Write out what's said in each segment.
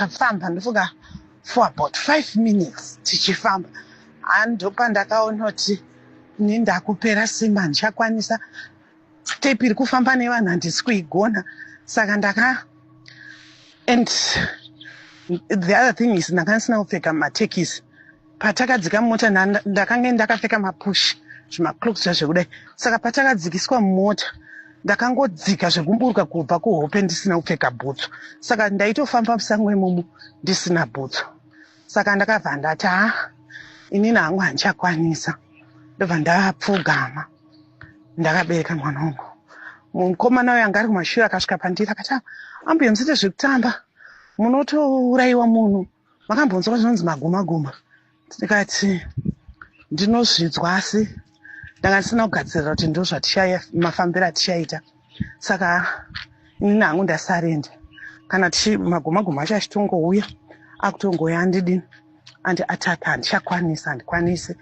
ndakafamba ndofunga for about five minutes tichifamba handopa ndakaona kuti ni ndakupera simba handichakwanisa step iri kufamba nevanhu handisi kuigona saka ndaka and the other thing is ndanga ndisina kupfeka matekisi patakadzika mota ndakange ndakapfeka mapush zvimacloaks zva zvekudai saka patakadzikiswa mota ndakangodzika zvekumburuka kubva kuhope ndisina kupfeka bhutsu saka ndaitofamba musango imomo ndisina bhutsu saka ndakabva ndati haa inini hangu handichakwanisa ndobva ndapfugama ndakabereka mwana wangu mukomana uyo anga ari kumashure akasvika pandiri akati ah, ambuya musite zvekutamba munotourayiwa munhu makambonzwa zvinonzi magumaguma ndikati ndinozvidzwa asi ndanga ndisina kugadzirira kuti ndo mafambiro atichaita saka ini nangu ndasarenda kana tichi maguma guma acho achitongouya akutongouya andidini andi attack handichakwanisa handikwanisi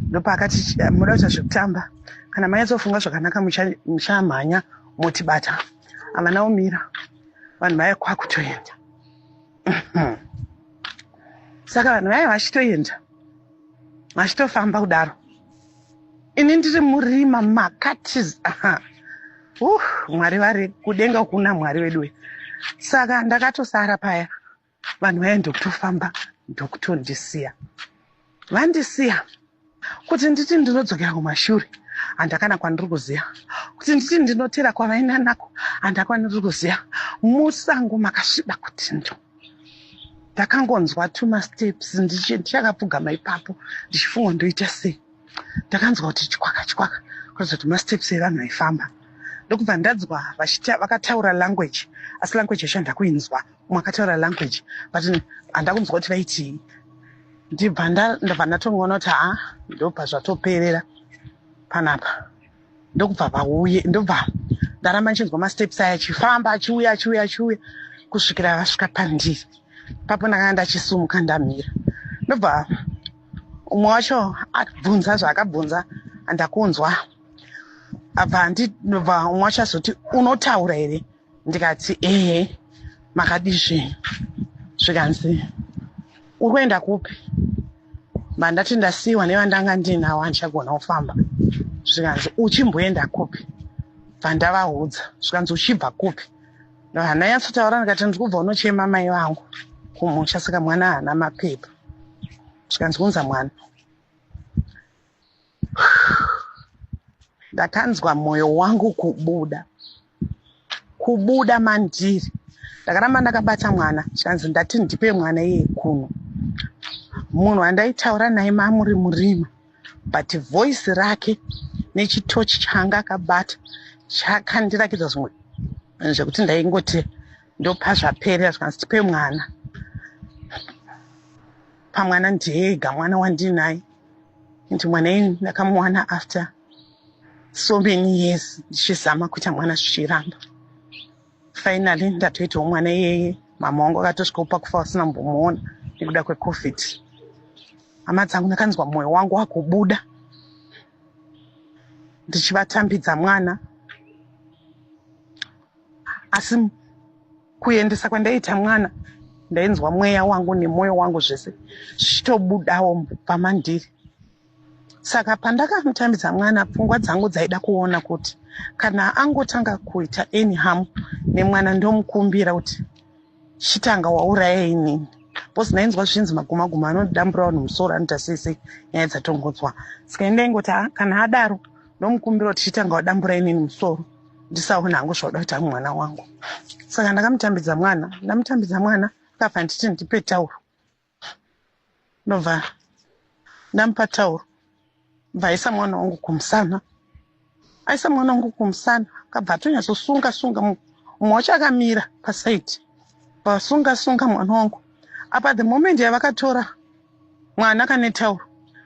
ndopaakati muda kuita zvekutamba kana manyatsofunga zvakanaka muchamhanya motibata havana umira vanhu vaya kwakutoenda saka vanhu vaya vachitoenda vachitofamba kudaro ini ndiri murima makatis uh, mwari vari kudenga kuna mwari wedu we saka ndakatosara paya vanhu vaye ndokutofamba ndokutondisiya Vandisiya kuti nditi ndinodzokera kumashure handakana kwandiri kuziva kuti nditi ndinotera kwavaina nako handakwaniri kuziva musango makasviba kuti ndo ndakangonzwa tuma steps ndichakapfugama ipapo ndichifunga ndoita sei ndakanzwa kuti chikwaka chikwaka kuratidza kuti masteps evanhu vaifamba ndokubva ndanzwa vakataura language asi language yacho handakuinzwa umwe akataura language but handakunzwa kuti vaitii ndibva ndabva ndatongoona kuti haa ndobva zvatoperera panapa ndokubva vauye ndobva ndaramba ndichinzwa masteps aya achifamba achiuya achiuya achiuya kusvikira vasvika pandiri papo ndakanga ndachisumuka ndamira ndobva umwe wacho abvunza zvaakabvunza andakunzwa abva ndinobva umwe wacho azoti unotaura here ndikati ehe makadii zvinhu zvikanzi uri kuenda kupi mandati ndasiyiwa nevandanga ndiinawo andichagona kufamba zvikanzi uchimboenda kupi bvandavaudza zvikanzi uchibva kupi hananyatsotaura ndikati ndiri kubva unochema mai vangu kumusha saka mwana haana mapepa zvikanzi kunza mwana ndakanzwa moyo wangu kubuda kubuda mandiri ndakaramba ndakabata mwana zvikanzi ndati ndipe mwana iye kuno munhu andaitaura naye mamuri murima but voice rake nechitochi changa akabata chakandirakidza zvimwe zvekuti ndaingoti ndopa zvaperera zvikanzi tipe mwana pamwana ndiega mwana wandinaye and mwana ini ndakamuwana after so many years ndichizama kuita mwana zvichiramba finally ndatoitawo mwana iyeye mama wangu akatosvikawo pakufa vasina mbomuona nekuda kwecovid hama dzangu ndakanzwa mwoyo wangu wakubuda ndichivatambidza mwana asi Kuendesa kwandaita mwana ndainzwa mweya wangu nemwoyo wangu zvese zvichitobudawo mubva mandiri saka pandakamutambidza mwana pfungwa dzangu dzaida kuona kuti kana angotanga kuita any ham nemwana ndomukumbira kuti chitanga wauraya inini bcause ndainzwa zvinzi maguma guma anodambura vanhu musoro anoita sei sei nyaya dzatongodzwa saka indaingoti kana adaro ndomukumbira kuti chitanga wadambura inini musoro ndisaona hangu zvauda kuita mwana wangu saka ndakamutambidza mwana ndamutambidza mwana akabva nditi ndipe tauro ndobva ndamupa tauro bva aisa mwana wangu kumusana aisa mwana wangu kumusana akabva atonyatsosunga sunga mumwe wacho akamira pasaidi vasunga sunga mwana wangu apa the moment yavakatora mwana kane tauro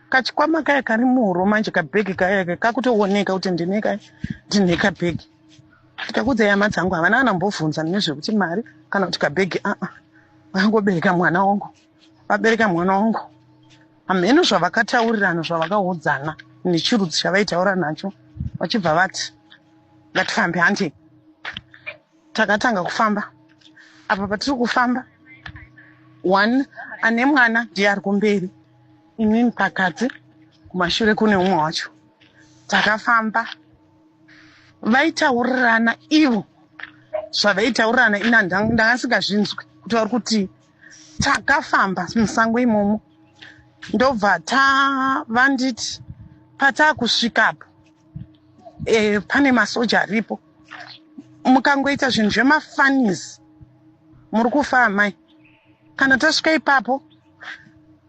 kachikwama kaya kari muhuro manje kabhegi kaya ke kakutooneka kuti ndine ka ndine kabhegi ndikakuudza yama dzangu havana kana mbovhunza nezvekuti mari kana kuti kabhegi aa vangobereka mwana wangu vabereka mwana wangu hamheno zvavakataurirana zvavakaudzana nechirudzi chavaitaura nacho vachibva vati ngatifambe handei takatanga kufamba apa patiri kufamba one ane mwana ndiye ari kumberi inini pakati kumashure kune umwe wacho takafamba vaitaurirana ivo zvavaitaurirana ina ndanga ndisingazvinzwi kuti vari kuti takafamba musango imomo ndobva tavanditi pataakusvikapo e, eh, pane masoja aripo mukangoita zvinhu zvemafanis muri kufa amai kana tasvika ipapo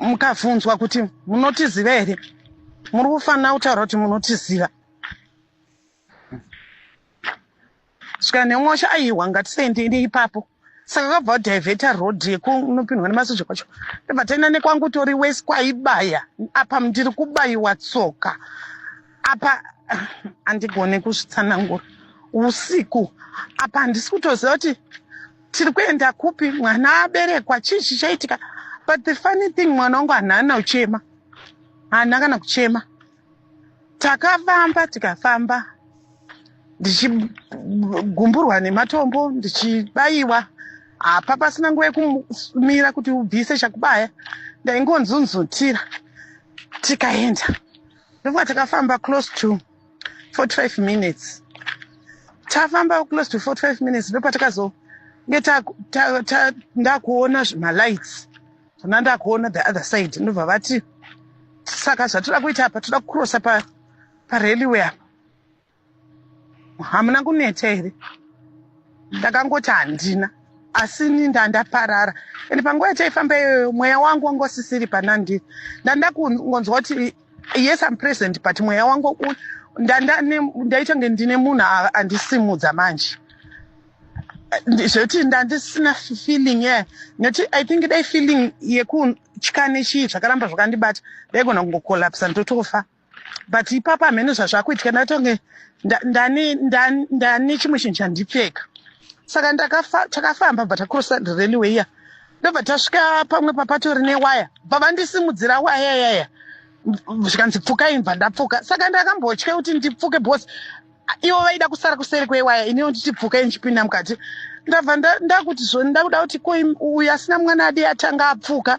mukabvunzwa kuti munotiziva here muri kufanira kutaura kuti munotiziva Svika nemwosha aiwa ngatisaendei ipapo. Saka kwabva diveta road yekunopindwa nemasoja kwacho. Ndobva taenda nekwangu tori west kwaibaya. Apa ndiri kubaiwa tsoka. Apa andigone kuzvitsanangura. Usiku apa handisi kutoziva kuti tiri kuenda kupi mwana aberekwa chii chichaitika but the funny thing mwana wangu hanana uchema haana kana kuchema takafamba tikafamba ndichigumburwa nematombo ndichibaiwa hapa pasina nguva yekumira kuti ubvise chakubaya ndaingonzunzutira tikaenda ndokuva takafamba close to 45 minutes tafamba close to 45 minutes ndopatakazo ndakuona zvimalights Kana ndakuona the other side ndobva vati saka zvatoda kuita apa toda kucrossa pa pareliway apa hamuna kuneta here ndakangoti handina asi ni ndandaparara and panguva yataifamba iyoyo mweya wangu wanga usisiri panandiri ndandakungonzwa kuti yes am present but mweya wangu ndaita nge ndine munhu andisimudza manje zvekuti ndandisina feeling ye nekuti i think dai feeling yekutya nechii zvakaramba zvakandibata ndaigona kungokolapsa ndotofa but ipapa hamene zvazvakuitika ndatonge ndane chimwe chinhu chandipfeka saka takafamba bva takurosa railway ya ndobva tasvika pamwe papatori newaya bva vandisimudzira waya yaya zvikanzi pfukai bva ndapfuka saka ndakambotya kuti ndipfuke bcause ivo vaida kusara kuseri kwewaya iniwo ndichibvuka ndichipinda mukati ndabva ndakuti zvoni ndakuda kuti ko uyu asina mwana adi atanga apfuka